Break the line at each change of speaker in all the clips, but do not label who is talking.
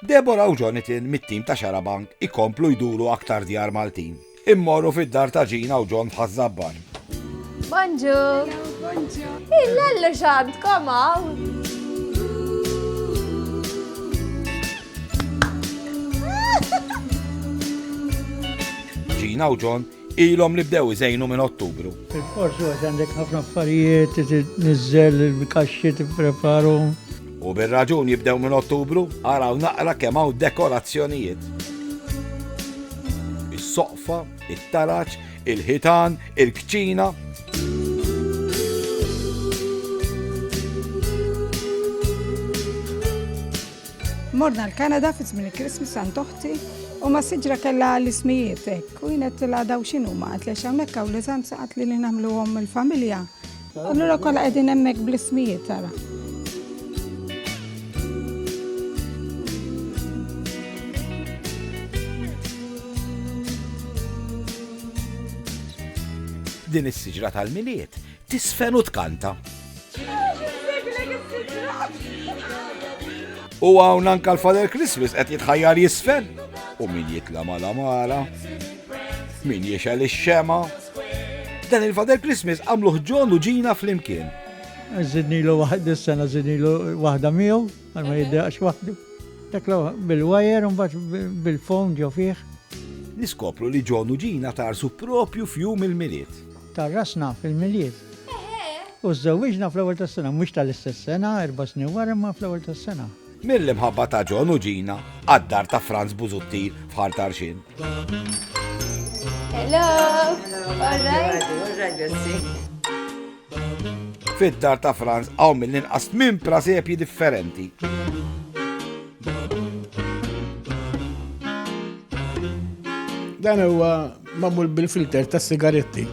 Deborah u Jonathan mit-tim ta' Xarabank ikomplu jduru aktar djar Maltin. Immorru fid-dar ta' Ġina u John ħazzabban. Bonġu! Bonġu! Il-lallu xant komaw! Ġina u John Ilhom li bdew iżejnu minn Ottubru. Il-forsi għax għandek ħafna affarijiet, nizzel il-kaxxi tippreparhom. U bir-raġun jibdew minn Ottubru, araw naqra kemm hawn dekorazzjonijiet. Is-soqfa, it-taraġ, il-ħitan, il-kċina, Morna l-Kanada fi żmien il-Christmas għand oħti u ma siġra kellha l-ismijiet hekk u jienet tilha daw x'inhu ma qed lex hawnhekk hawn l-eżanza qed li nagħmluhom il-familja. Allura kollha qegħdin hemmhekk bl-ismijiet tara. Din is-siġra tal-miliet Tisfen u tkanta. U hawn anka l-Father Christmas qed jitħajjar jisfen. U min jitla mal-amara, min jiexel ix-xema. Dan il-Father Christmas għamluh ġon u ġina fl-imkien. Zidnilu waħda s-sena zidnilu waħda miegħu, għal ma jiddaqx waħdu. Daklu bil-wajer un bil-fond ġo fih. Niskopru li ġon u ġina tarsu propju fjum il-miliet. Tgħarrasna fil-Milied u żżewwiġna fl-ewwel tas-sena, mhux tal-istess sena, erba' snin wara imma fl-ewwel tas-sena. Mill-imħabba ta' John u Gina għad-dar ta' Frans Busuttil f'Ħar Tarxien. Hello! All right? All right, grazzi. Fid-dar ta' Frans hawn mill-inqas tmien prasepji differenti. Dan huwa Magħmul bil-filter tas-sigaretti.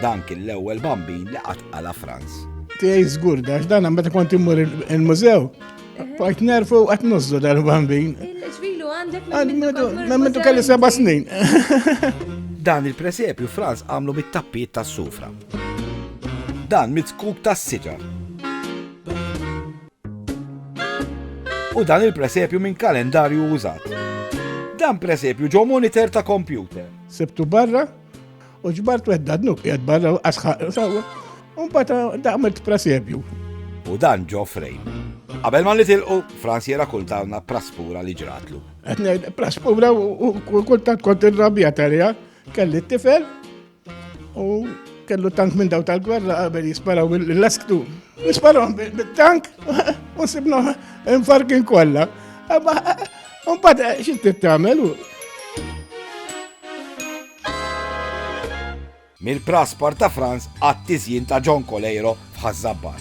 Dan kien l-ewwel bambin li qatt qala Franz. Tiegħi żgur dax dan hemm meta kont immur il-mużew. Bajt nerfu qed nużżu dal-bambin. Il-ġvilu għandek minn minn kelli seba' snin. Dan il-presepju Franz għamlu mit-tappiet tas-sufra. Dan mit-skub tas-siġar. u dan il-presepju minn kalendarju użat. Dan presepju ġo monitor ta' kompjuter. Sibtu barra u ġbart wedda dnub jgħad barra u asħaq sawa. Un bata daqmet presepju. U dan ġo frejn. Qabel ma li tilqu, Franz jera kultawna praspura li ġratlu. Praspura u kultant kont il-rabja tal kelli t-tifel U kellu tank minn daw tal-gwerra qabel jisparaw l-lesktu. Jisparaw bit-tank u sibnu infarkin kollha. Mbagħad eh, xi tittamel u. Mill-praspar ta' Franz għat-tiżjin ta' John Coleiro f'Ħaż-Żabbar.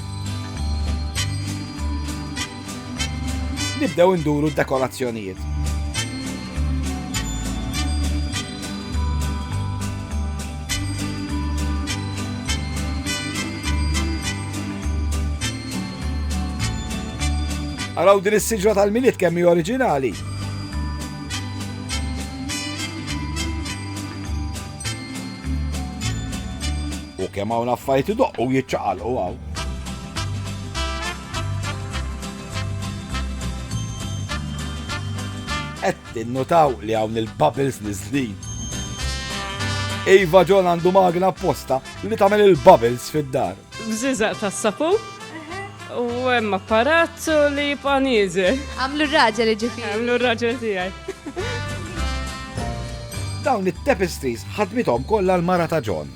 Nibdew induru d-dekorazzjonijiet. Araw din is-siġra tal-miliet kemm hi oriġinali. U kemm hawn affarijiet idoqqu u jiċċaqalqu hawn. Qed tinnutaw li hawn il-bubbles niżlin. Iva John għandu magna apposta li tagħmel il-bubbles fid-dar. Bżiżaq tas-sapu. U hemm apparat li jibqa' nieżel. Għamlu r-raġel iġifieri. Għamlu r-raġel tiegħi. Dawn it-tapestries ħadmithom kollha l-mara ta' John.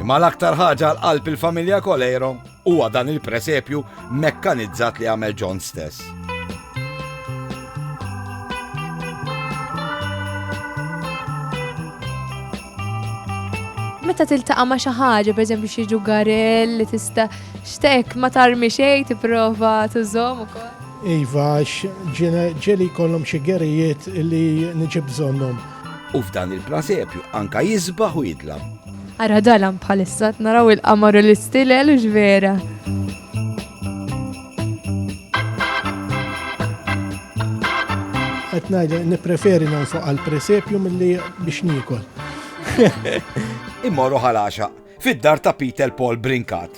Imma l-aktar ħaġa l-qalb il-familja Kolejro Huwa dan il-presepju mekkanizzat li għamel John stess. meta tiltaqa' ma' xi ħaġa, pereżempju xi ġugarell li tista' xtek ma tarmi xejn tipprova tużhom ukoll. Iva, ġeli kollhom xi gerijiet li niġib bżonnhom. U f'dan il-prasepju anka jisbaħ u jidlam. Ara dalam bħalissa naraw il-qamar u l-istilel u ġvera. Qed ngħid nippreferi nonfoq għal presepju milli biex nikol. Immorru ħalaxa fid-dar ta' Peter Paul Brinkat.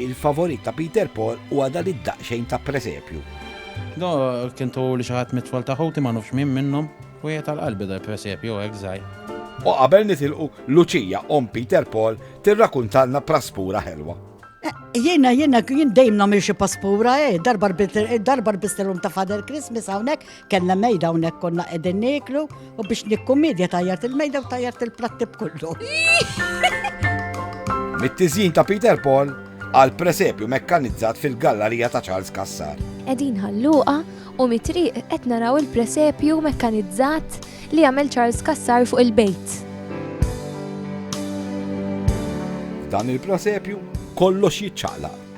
Il-favorit ta' Peter Paul huwa dan id-daqsxejn ta' presepju. Do kien turi xi ħadd mit-tfal ta' ħuti ma nufx min minnhom, wieħed għal qalbi dal-presepju hekk żgħir. U qabel nitilqu, Luċija, omm Peter Paul, tirrakuntalna praspura ħelwa. Jiena, jiena, jien dejjem nagħmel xi paspura, eh, darba rbitt, darba rbiżtilhom ta' Father Christmas hawnhekk, Kenna mejda hawnhekk konna qegħdin nieklu u biex nikkumedja tajjart il-mejda u tajjart il-platti b'kollu. Mit-tiżjin ta' Peter Paul għal presepju mekkanizzat fil-gallarija ta' Charles Kassar. Edin ħalluqa u mitriq qed naraw il-presepju mekkanizzat li għamel Charles Kassar fuq il-bejt. Dan il-presepju kollox jitċaqlaq.